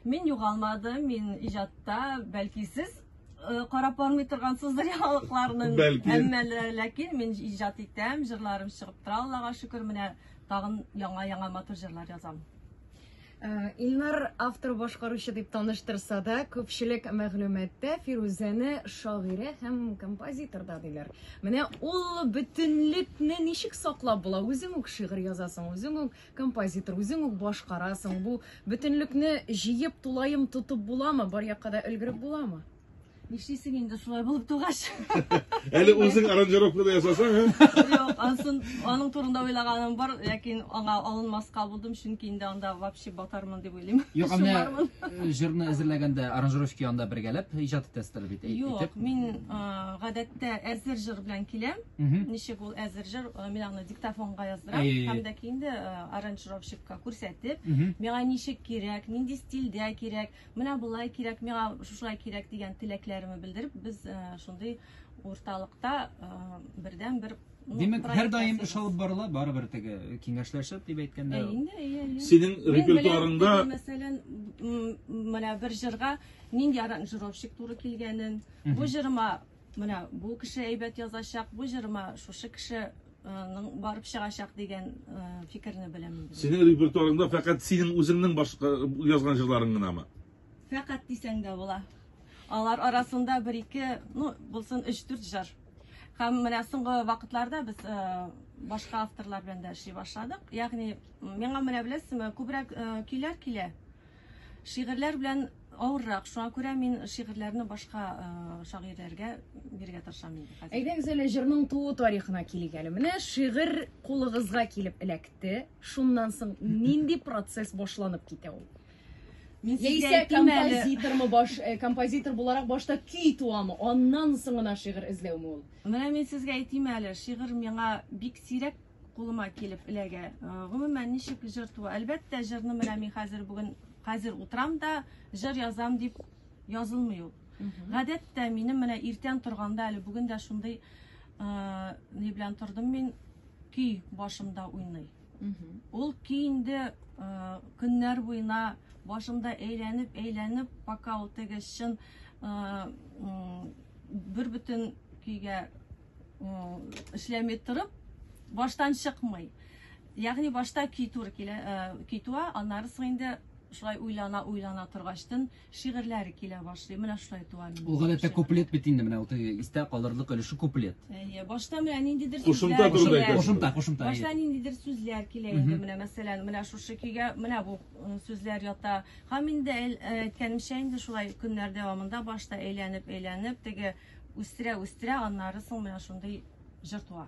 Мин югалмадым, мин иҗатта, бәлки сез карап бармый торгансыздыр яңалыкларның. Бәлки. Әмма ләкин мин иҗат итәм, җырларым чыгып тора, Аллага шөкер, менә тагын яңа-яңа матур җырлар язам. Э, Илнар автор башкаручы дип таныштырса да, күпчелек мәгълүматта Фирүзәне шагыйрә һәм композитор да диләр. Менә ул бөтенлекне ничек саклап була? Үзең үк шигырь язасың, үзең үк Композитор, үзең үк башкарасың. Бу бөтенлекне җыеп, тулаем тотып буламы? Бар якка да өлгереп буламы? Нишлисең инде шулай булып тугач? Әле үзең аранжировка да ясасаң, һә? Юк, ансын аның турында уйлаганым бар, ләкин аңа алынмаска булдым, чөнки инде анда вообще батармын дип уйлыйм. Юк, менә Шулармын. э, җырны әзерләгәндә аранжировщик янында бергәләп иҗат итәсезләр бит. әй- Юк, әйтеп. мин а, гадәттә әзер җыр белән киләм. Мгм. Ничек ул әзер җыр? Э, мин аны диктофонга яздырам э, һәм дә инде э, аранжировщикка күрсәтеп миңа ничек кирәк нинди стильдә кирәк менә болай кирәк миңа шушылай кирәк дигән теләкләремне белдереп без шундый урталыкта бердән бер Димәк, һәр даим эш алып барыла, барыбер теге киңәшләшеп дип әйткәндә. Инде, ие, ие. Синең репертуарыңда мәсәлән, менә бер җырга нинди аранжировщик туры килгәнен, бу җырыма Менә бу кеше әйбәт язачак, бу җырма шушы кеше ның барып чыгачак дигән фикерне беләм инде. Синең репертуарыңда фәкать синең үзеңнең башка язган җырларың гынамы? Фәкать дисәң дә була. Алар арасында бер ике, ну, булсын 3-4 җыр. Һәм менә соңгы вакытларда без башка авторлар белән дә эшли башладык. Ягъни, миңа менә беләсезме, күбрәк көйләр килә. Шигырьләр белән авыррак. Шуңа күрә мин шигырьләрне башка э, шагыйрьләргә бирергә тырышам инде хәзер. Әйдәгез әле җырның туу тарихына килик әле. Менә шигырь кулыгызга килеп эләкте. Шуннан соң нинди процесс башланып китә ул? Мин сезгә Яисә әйтим әле. композитормы баш э, композитор буларак башта көй туамы? Аннан соң гына шигырь эзләүме ул? Менә мин сезгә әйтим әле, шигырь миңа бик сирәк кулыма килеп эләгә. Гомумән, ничек җыр туа? Әлбәттә, җырны менә мин хәзер бүген хәзер утрам да җыр язам дип язылмый ул. Гадәттә, минем менә иртән торганда әле бүген дә шундый ни белән тордым мин көй башымда уйный. Ул көй инде көннәр буена башымда әйләнеп, әйләнеп, пока ул теге чын бер бөтен көйгә эшләми торып баштан чыкмый. Ягъни башта көй туры килә, көй туа, аннары соң инде шулай уйлана уйлана торгачтын шигырьләре килә башлый. Менә шулай туа минем. Ул гадәттә куплет бит инде менә ул истә калырлык өлеше куплет. Әйе, башта менә ниндидер сүзләр. Кушымта, кушымта, кушымта. Башта ниндидер сүзләр килә инде менә мәсәлән, менә шушы көйгә, менә бу сүзләр ята. Һәм инде әйткәнемчә, инде шулай көннәр дәвамында башта әйләнеп-әйләнеп, теге үстерә-үстерә, аннары соң менә шундый җыр туа.